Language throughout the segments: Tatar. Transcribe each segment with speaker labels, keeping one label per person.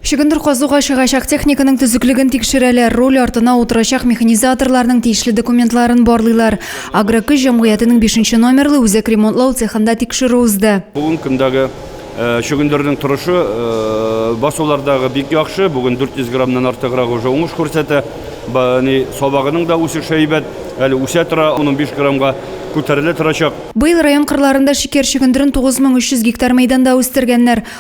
Speaker 1: Чөгендер казуга чыгачак техниканың төзеклеген тикшерәләр, руль артына утырачак механизаторларның тиешле документларын барлыйлар. Агрокөч җәмгыятенең бишенче номерлы үзәк ремонтлау цехында тикшерү узды. Бүгенге көндәге
Speaker 2: чөгендернең торышы басулардагы бик яхшы, бүген 400 граммнан артыграк уже уңыш күрсәтә. Сабагының да үсеше әйбәт, әле үсә тора, ун-унбиш граммга күтәрелә торачак. Быел район кырларында
Speaker 1: шикәр чөгендерен 9300 гектар мәйданда үстергәннәр.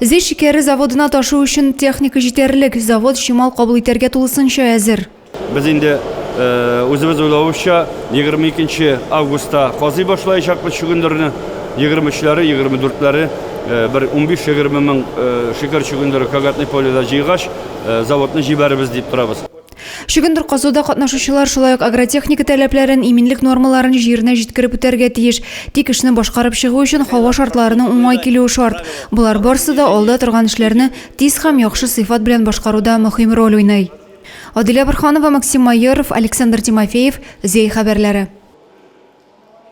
Speaker 3: Зөй шикәре
Speaker 1: заводына ташу өчен техника җитәрлек, завод чимал кабул итәргә тулысынча әзер. Без инде
Speaker 2: үзебез уйлавыбызча, 22 нче августта казый башлаячакбыз чөгендерне. 23 ләре, 24 ләре бер 15-20 мең шикәр чөгендере Кагатный поледа җыйгач, заводны җибәрербез дип торабыз. Чөгендер казуда
Speaker 1: катнашучылар шулай ук агротехника таләпләрен, иминлек нормаларын җиренә җиткереп үтәргә тиеш. Тик эшне башкарып чыгу өчен һава шартларының уңай килүе шарт. Болар барсы да алда торган эшләрне тиз һәм яхшы сыйфат белән башкаруда мөһим роль уйный. Адилә Борһанова, Максим Майоров, Александр Тимофеев, Зәй хәбәрләре.